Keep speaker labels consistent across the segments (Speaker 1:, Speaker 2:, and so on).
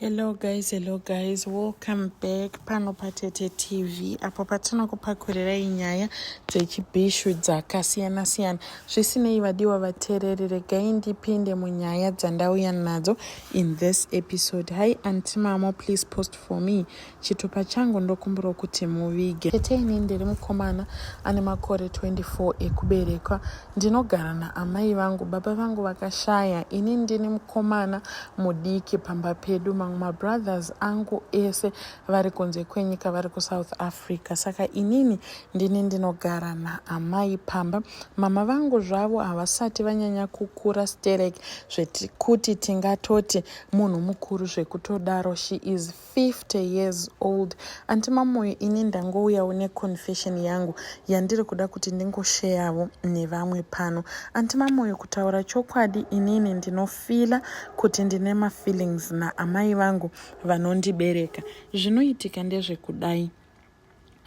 Speaker 1: hello guys hello guys welcome back pano patete tv apo patinokupakurirai nyaya dzechibhishu dzakasiyana siyana zvisinei vadiwa vateereri regai ndipinde munyaya dzandauya nadzo in this episode hi antimamo please post for me chitupa changu ndokumbirawo kuti muvige tete ini ndiri mukomana ane makore 24 ekuberekwa ndinogara naamai vangu baba vangu vakashaya ini ndini mukomana mudiki pamba pedu mamwe mabrothers angu ese vari kunze kwenyika vari kusouth africa saka inini ndini ndinogara naamai pamba mama vangu zvavo havasati vanyanya kukura sterek zvekuti tingatoti munhu mukuru zvekutodaro she is 50 years old anti mamoyo ini ndangouyawo neconfession yangu yandiri kuda kuti ndingosheyavo nevamwe pano anti mamoyo kutaura chokwadi inini ndinofila kuti ndine mafeelings naamai vangu vanondibereka zvinoitika ndezvekudai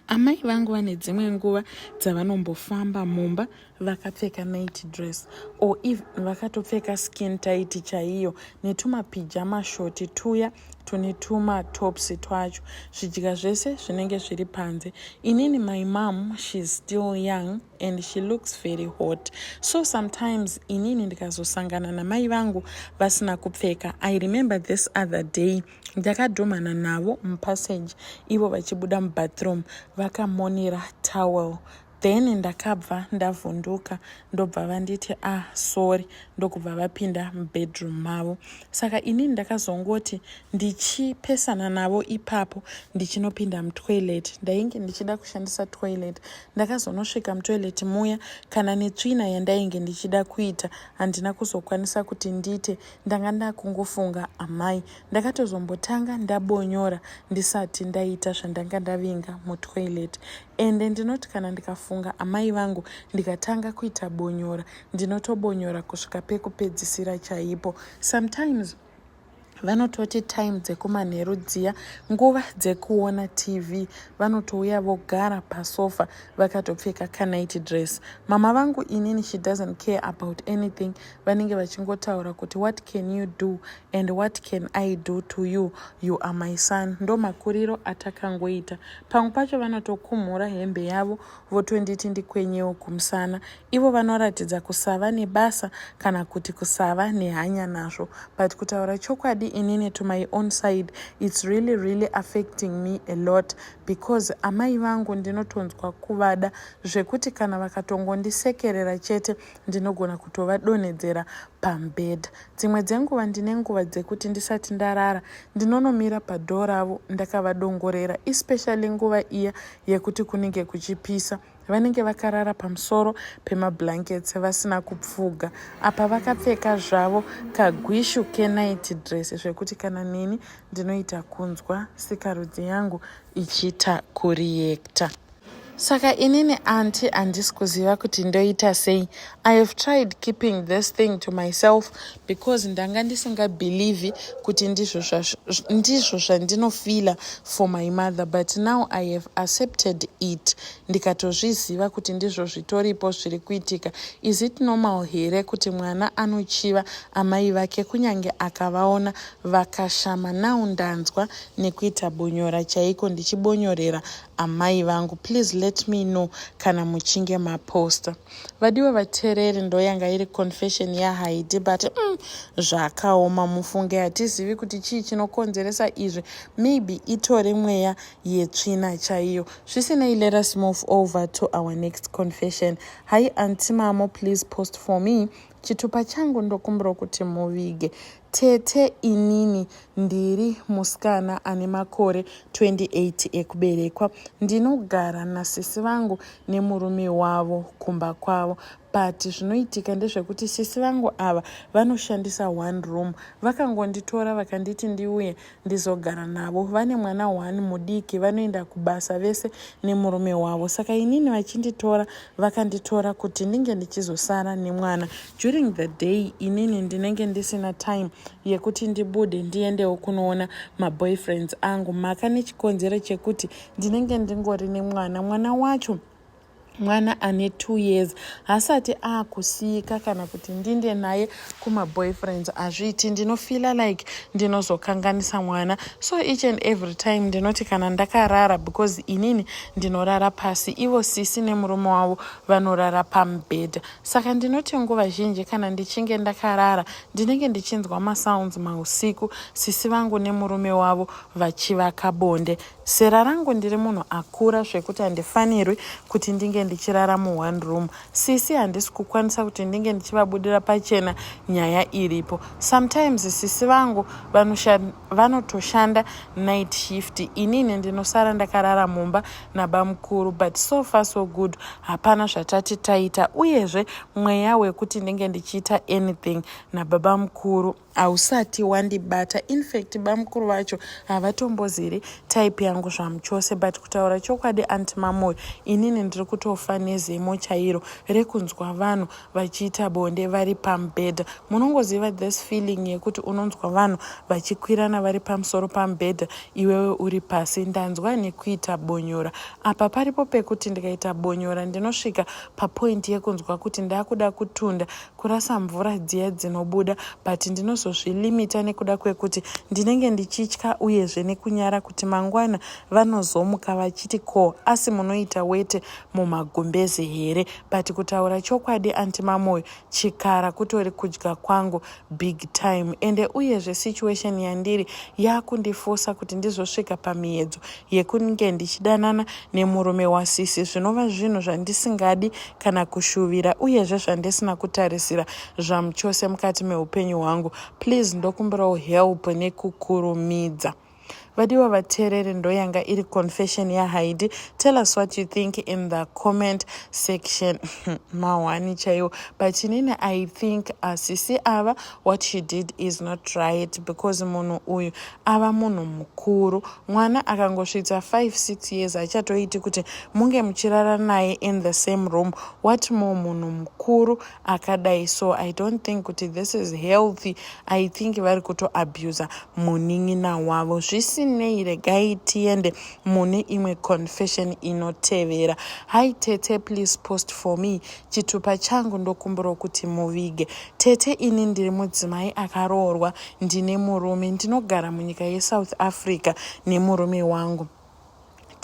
Speaker 1: Amai vangu vane dzimwe nguva dzavanombofamba mumba vakapfeka night dress or if vakatopfeka skin tight chaiyo netumapijama shoti tuya tune tumatops twacho zvidya zvese zvinenge zviri panze inini my mom sheis still young and she looks very hot so sometimes inini ndikazosangana namai vangu vasina kupfeka i remember this other day ndakadhumhana navo mupassage ivo vachibuda mubathroom vakamonera towel then ndakabva ndavhunduka ndobva vanditi ah sorry ndokubva vapinda mubedroom mavo saka inini ndakazongoti ndichipesana navo ipapo ndichinopinda mutoilet ndainge ndichida kushandisa toilet ndakazonosvika mutoilet muya kana netsvina yandainge ndichida kuita handina kuzokwanisa kuti ndiite ndanga ndakungofunga amai ndakatozombotanga ndabonyora ndisati ndaita zvandanga ndavinga mutoilet ende ndinoti kana ndikafunga amai vangu ndikatanga kuita bonyora ndinotobonyora kusvika pekupedzisira chaipo sometimes vanototi time dzekumanheru dziya nguva dzekuona tv vanotouya vogara pasofa vakatopfeka kanight dress mama vangu inini she doesn't care about anything vanenge vachingotaura kuti what can you do and what can i do to you you are my son ndo makuriro atakangoita pamwe pacho vanotokumhura hembe yavo votonditi ndikwenyewo kumusana ivo vanoratidza kusava nebasa kana kuti kusava nehanya nazvo but kutaura chokwadi inini to my own side its really really affecting me a lot because amai vangu ndinotonzwa kuvada zvekuti kana vakatongondisekerera chete ndinogona kutovadonhedzera pamubhedha dzimwe dzenguva ndine nguva dzekuti ndisati ndarara ndinonomira padhoo ravo ndakavadongorera especially nguva iya yekuti kunenge kuchipisa vanenge vakarara pamusoro pemablankets vasina kupfuga apa vakapfeka zvavo kagwishu kenight dress zvekuti kana neni ndinoita kunzwa sikarudzi yangu ichiita kuriyekta Saka inini anti handisi kuziva kuti ndoita sei. I have tried keeping this thing to myself because ndanga ndisingabhilivhi kuti ndizvo zvandinofila for my mother but now I have accepted it ndikatozviziva kuti ndizvo zvitoripo zviri kuitika. Is it normal here kuti mwana anochiva amai vake kunyange akavaona vakashama? Now ndanzwa nekuita bonyora chaiko ndichibonyorera amai vangu please let me know kana muchinge maposta vadiwa vatereri ndoyanga iri confession yahaidi but mm, zvakaoma mufunge hatizivi kuti chii chinokonzeresa izvi maybe itori mweya yetsvina chaiyo zvisinei let us move over to our next confession hi antimamo please post for me Chitupa changu ndokumbiro kuti muvige. Tete inini ndiri musikana ane makore 28 ekuberekwa. Ndinogara nasisi vangu nemurume wavo kumba kwavo but zvinoitika ndezvekuti sisi vangu ava vanoshandisa one room. Vakangonditora vakanditi ndiuye ndizogara navo vane mwana one mudiki vanoenda kubasa vese nemurume wavo saka inini vachinditora vakanditora kuti ndinge ndichizosara nemwana during the day inini ndinenge ndisina time yekuti ndibude ndiendewo kunoona maboyfriends angu maka nechikonzero chekuti ndinenge ndingori nemwana mwana wacho mwana ane two years hasati akusiyika kana kuti ndinde naye kumaboyfriends hazviiti ndinofila like ndinozokanganisa mwana so each and every time ndinoti kana ndakarara because inini ndinorara pasi ivo sisi nemurume wavo vanorara pamubhedha saka ndinoti nguva zhinji kana ndichinge ndakarara ndinenge ndichinzwa masounds mausiku sisi vangu nemurume wavo vachivaka bonde Zera rangu ndiri munhu akura zvekuti handifanirwi kuti ndinge ndichirara mu one room. Sisi handisi kukwanisa kuti ndinge ndichivabudira pachena nyaya iripo. Sometimes sisi vangu vanotoshanda night shift inini ndinosara ndakarara mumba nabamukuru but so far so good hapana zvatati taita uyezve mweya wekuti ndinge ndichiita anything nababa mukuru hausati wandibata infact bamukuru vacho havatomboziri type yangu zvamuchose but kutaura chokwadi anti mamoyo inini ndiri kutofa nezemo chairo rekunzwa vanhu vachiita bonde vari pamubhedha munongoziva this feeling yekuti unonzwa vanhu vachikwirana vari pamusoro pamubhedha iwewe uri pasi ndanzwa nekuita bonyora apa paripo pekuti ndikaita bonyora ndinosvika papointi yekunzwa kuti ndakuda kutunda kurasa mvura dziya dzinobuda but ndinozozvilimita nekuda kwekuti ndinenge ndichitya uyezve nekunyara kuti mangwana vanozomuka vachiti ko asi munoita wete mumagumbeze here but kutaura chokwadi anti mamoyo chikara kutori kudya kwangu big time ende uyezve situation yandiri yakundifosa kuti ndizosvika pamiyedzo yekunge ndichidanana nemurume wasisi zvinova zvinhu zvandisingadi kana kushuvira uyezve zvandisina kutarisira zvamuchose mukati meupenyu hwangu please ndokumbirawo help nekukurumidza vadiwa vateereri ndoyanga iri confession yahaidi tell us what you think in the comment section mahwani chaiwo but inini i think asisi ava what she did is not right because munhu uyu ava munhu mukuru mwana akangosvitsa 56 years haichatoiti kuti munge muchirara naye in the same room what more munhu mukuru akadai so i don't think kuti this is healthy i think vari kutoabusa munin'ina wavo zvisinei regai tiende mune imwe confession inotevera hi tete please post for me chitupa changu ndokumbirawo kuti muvige tete ini ndiri mudzimai akaroorwa ndine murume ndinogara munyika yesouth africa nemurume wangu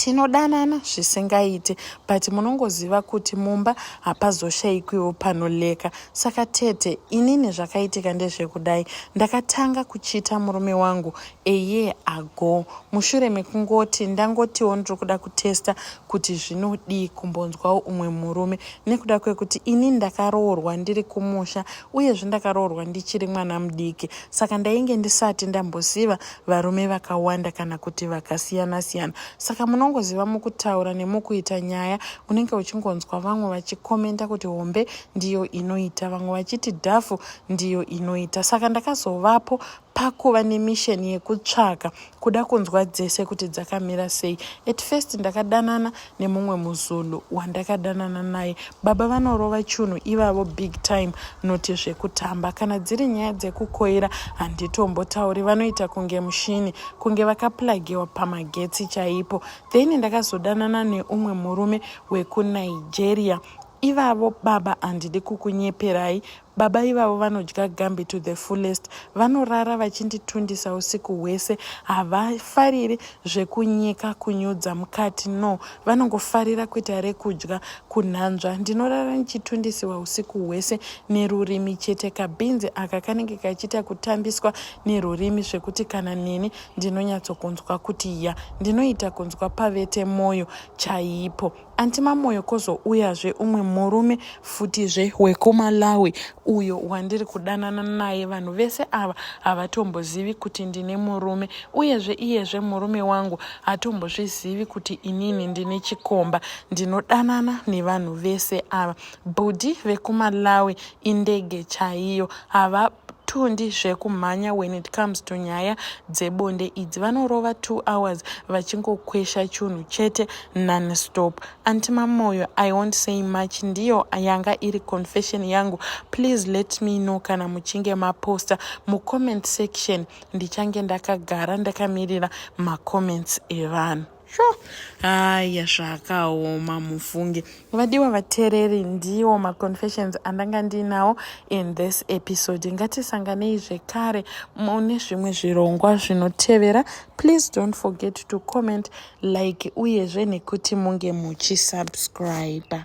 Speaker 1: tinodanana zvisingaite but munongoziva kuti mumba hapazoshayikwiwo panoleka saka tete inini zvakaitika ndezvekudai ndakatanga kuchita murume wangu eye ago mushure mekungoti ndangotiwo ndiri kuda kutesta kuti zvinodii kumbonzwawo umwe murume nekuda kwekuti ini ndakaroorwa ndiri kumusha uyezve ndakaroorwa ndichiri mwana mudiki saka ndainge ndisati ndamboziva varume vakawanda kana kuti vakasiyana siyana saka munongoziva mukutaura nemukuita nyaya unenge uchingonzwa vamwe vachikomenta kuti hombe ndiyo inoita vamwe vachiti dhafu ndiyo inoita saka ndakazovapo pakuva nemission yekutsvaka kuda kunzwa dzese kuti dzakamira sei at first ndakadanana nemumwe muzulu wandakadanana naye baba vanorova chunhu ivavo big time noti zvekutamba kana dziri nyaya dzekukoira handitombotauri vanoita kunge mushini kunge vakaplagiwa pamagetsi chaipo then ndakazodanana neumwe murume wekunigeria ivavo baba handidi kukunyeperai Baba ivavo vanodya gambi to the fullest. Vanorara vachinditundisa usiku hwese. Havafariri zvekunyika kunyudza mukati no. Vanongofarira kuita rekudya kunhanzva. Ndinorara ndichitundisiwa usiku hwese nerurimi chete. Kabhinzi aka kanenge kachiita kutambiswa nerurimi zvekuti kana neni ndinonyatsokunzwa kuti ya. Ndinoita kunzwa pavete moyo chaipo. Anti Mamoyo kozouyazve umwe murume futizve wekuMalawi uyo wandiri kudanana naye. Vanhu vese ava havatombozivi kuti ndine murume, uyezve iyezve murume wangu hatombozvizivi kuti inini ndine chikomba. Ndinodanana nevanhu vese ava. Bhudhi vekuMalawi indege chaiyo, hava tundi zvekumhanya when it comes to nyaya dzebonde idzi vanorova two hours vachingokwesha chunhu chete nonstop anti mamoyo i won't say much ndiyo yanga iri confession yangu please let me know kana muchinge maposta mucomment section ndichange ndakagara ndakamirira macomments evanhu sho haya zvakaoma mufunge vadiwa vatereri ndiwo maconfessions andanga ndiinawo in this episode ngatisanganei zvekare mune zvimwe zvirongwa zvinotevera please don't forget to comment like uyezve nekuti munge muchisubscribe